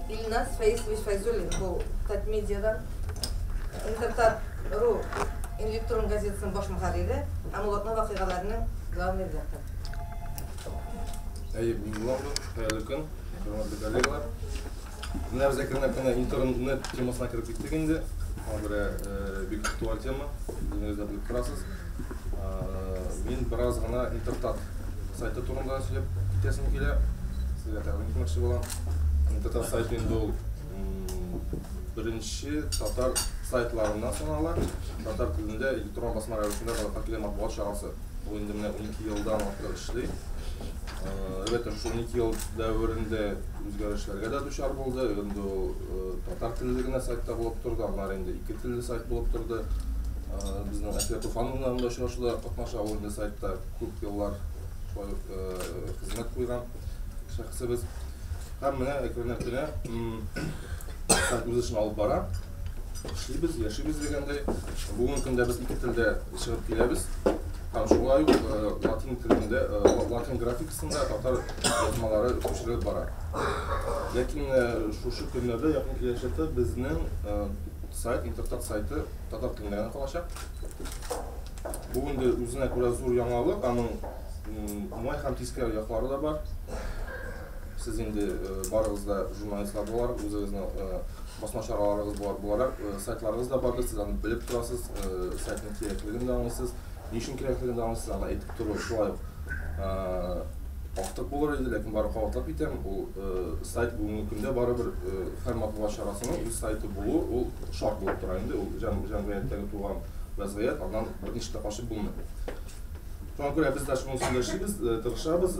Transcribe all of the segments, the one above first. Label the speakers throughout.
Speaker 1: Ильназ Фаисович Файзуллин бу Татмедиадан Интертат ру электрон газетасының баш мөхәррире һәм Улатма вакыйгаларының главный редакторы. Әйе,
Speaker 2: мин Улатма, хәерле көн, хөрмәтле коллегалар. Менә без әкренләп кенә интернет темасына кереп киттек инде. Андре э, бик актуаль тема, үзегез дә белеп торасыз. Э, мин бераз гына интертат сайты турында сөйләп китәсем килә. Сезгә тәкъдим итмәкче булам. Интертат сайты инде ул беренче татар сайтларыннан санала. Татар телендә электрон басма рәвешендә халыкка килгән матбугат чарасы. Ул инде менә 12 елдан артык эшли. Әлбәттә, шул 12 ел дәверендә Үзгәрешләргә дә дучар булды. Инде ул татар телле генә сайтта булып торды, аннары инде ике телле сайт булып торды. Безнең Әсия Туфановна анда очрашуда катнаша, ул инде сайтта күп еллар шулай ук хезмәт куйган шәхесебез. Һәм менә әкренләп кенә сайт үз эшен алып бара. Эшлибез, яшибез дигәндәй. Бүгенге көндә без ике телдә чыгып киләбез. Һәм шулай ук латин телендә, латин график Шунда татар язмалары күчереп бара. Ләкин шушы көннәрдә якын киләчәктә безнең сайт, интертат сайты татар телендә генә калачак. Бу инде үзенә күрә зур яңалык, аның уңай һәм тискәре яклары да бар. Сез инде барыгыз да журналистлар буларак, үзегезнең басма чараларыгыз буларак сайтларыгыз да бардыр, сез аны белеп торасыз, сайтның кирәклеген дә аңлыйсыз. Ни өчен кирәклеген аны сезгә әйтеп тору шулай ук артык булыр иде, ләкин бары кабатлап китәм, ул сайт бүгенге көндә барыбер һәр матбугат чарасының үз сайты булу, ул шарт булып тора инде, ул җәмгыятьтәге туган вәзгыять, аннан берничек тә качып булмый. Шуңа күрә без дә шуның өстендә эшлибез, тырышабыз.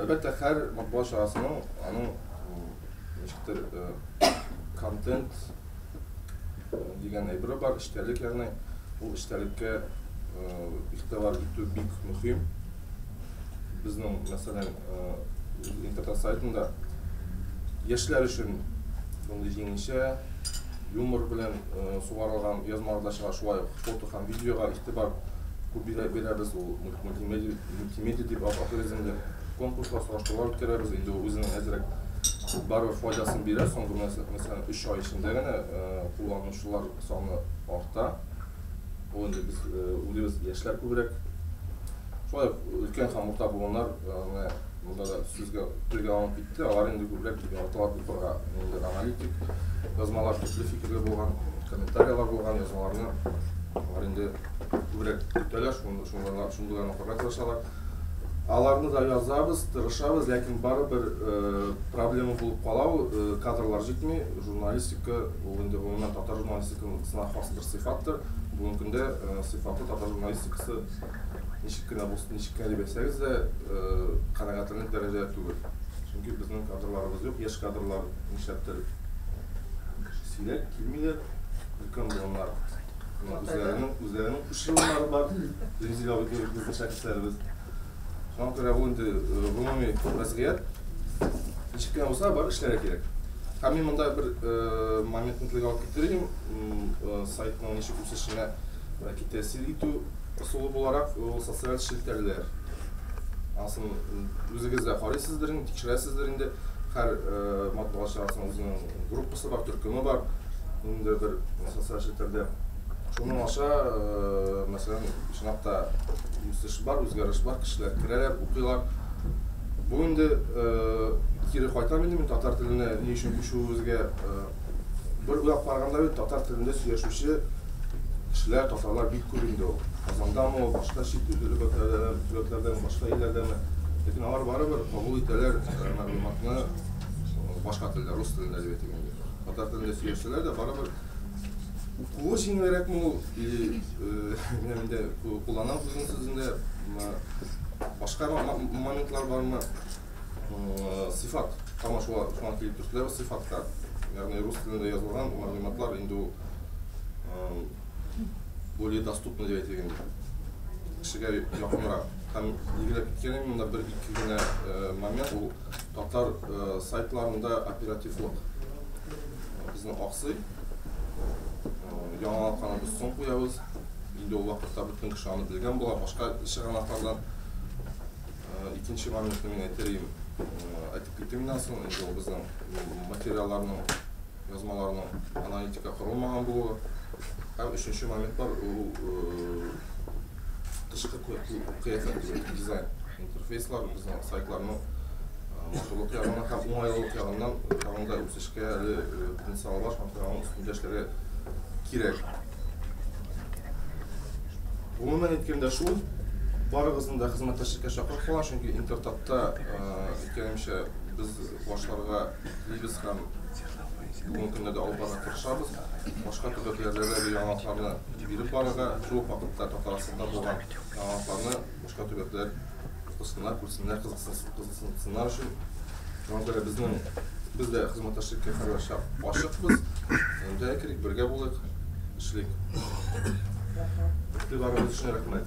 Speaker 2: Әлбәттә, һәр матбугат чарасының аның ничектер контент дигән әйбере бар, эчтәлек, ягъни ул эчтәлеккә игътибар итү бик мөһим. Безнең, мәсәлән, интернет сайтында яшьләр өчен мондый җиңелчә юмор белән сугарылган язмалар да чыга, шулай ук фото һәм видеога игътибар күп бирәбез, ул мультимедиа дип атыйбыз инде. Конкурслар, сораштырулар үткәрәбез. Инде ул үзенең әзрәк барыбер файдасын бирә. Соңгы мәсәлән 3 ай эчендә генә кулланучылар саны арта. Ул инде без үзебез яшьләр күбрәк. Шулай ук өлкән һәм урта буыннар менә монда да сүзгә телгә алынып китте. Алар инде күбрәк яраталар укырга. Инде аналитик язмалар, төпле фикерле булган, комментарияләр булган язмаларны алар инде күбрәк көтәләр, шундыйларны укырга тырышалар. Аларны да язабыз, тырышабыз, ләкин барыбер проблема булып кала ул, кадрлар җитми. Журналистика ул инде гомумән татар журналистикасына хас бер сыйфаттыр. Бүгенге көндә сыйфатлы татар журналистикасы ничек кенә булсын, ничек кенә дип әйтсәгез дә, канәгатьләнерлек дәрәҗәдә түгел. Чөнки безнең кадрларыбыз юк, яшь кадрлар нишләптер сирәк килмиләр, өлкән буыннар үзләренең, үзләренең Шушы еллары бар Резеда Гыйднуров безнең шәхесләребез. Шуңа күрә бу инде гомуми вазгыять. Ничек кенә булса бар эшләргә кирәк. Һәм мин монда бер моментны телгә алып китер идем, сайтның ничек үсешенә бәлки тәэсир итү ысулы буларак, ул социаль челтәрләр. Анысын үзегез дә карыйсыздыр инде, тикшерәсездер инде, һәр матбугат чарасының үзенең. группасы бар, төркеме бар, инде бер социаль челтәрдә. Шуның аша, э, мәсәлән, чынлап та үсеш бар, үзгәреш бар, кешеләр керәләр, укыйлар. Бу инде э, кире кайтам инде мин татар теленә ни өчен күчүебезгә э, бер уйлап караганда бит татар телендә сөйләшүче кешеләр, татарлар бик күп инде ул. Казандамы ул, башка чит төбәкләрдәме, башка илләрдәме. Ләкин алар барыбер кабул итәләр мәгълүматны, Башка телдә, рус телендә әдәбият дигәндә. Татар телендә сөйләшсәләр дә, барыбер укуы җиңелрәкме ул, или инде куллана үзенең сүзендә башка моментлар бармы? Сыйфат тама шуңа килеп төште, сыйфатка. Ягъни рус телендә язылган мәгълүматлар инде ул более доступно дип әйтелгән. Кешегә якынрак. Һәм билгеләп киткәнем монда бер-ике генә момент ул Татар сайтларында оперативлык безнең аксый. Яңалыкларыбыз соң куябыз. Инде ул вакытта бөтен кеше аны белгән була. Башка чыганаклардан икенче моментны мин әйтер идем. Әйтеп китим моннан соң, инде ул безнең материалларның Язмаларның аналитика корылмаган булуы һәм өченче моментлар ул тышкы кыяфәт түгел, дизайн. Интерфейслар безнең сайтларның матурлык ягыннан һәм уңайлылык ягыннан тагын да үсешкә әле потенциалы бар, шуңа күрә аның өстендә эшләргә кирәк. Гомумән әйткәндә шул, барыгызны да хезмәттәшлеккә чакырып калам, чөнки Интертатта икәнемчә без башларга Дибез һәм бүгенге көнне дә алып барырга тырышабыз. Башка төбәкләрдә дә бу яңалыкларны биреп барырга, шул ук вакытта Татарстанда булган яңалыкларны башка төбәкләр укысыннар, күрсеннәр, кызыксынсыннар өчен. Шуңа күрә безнең без дә хезмәттәшлеккә һәрвакытча ачыкбыз. Әйдә керик, бергә булыйк, эшлик. Игътибарыгыз өчен рәхмәт.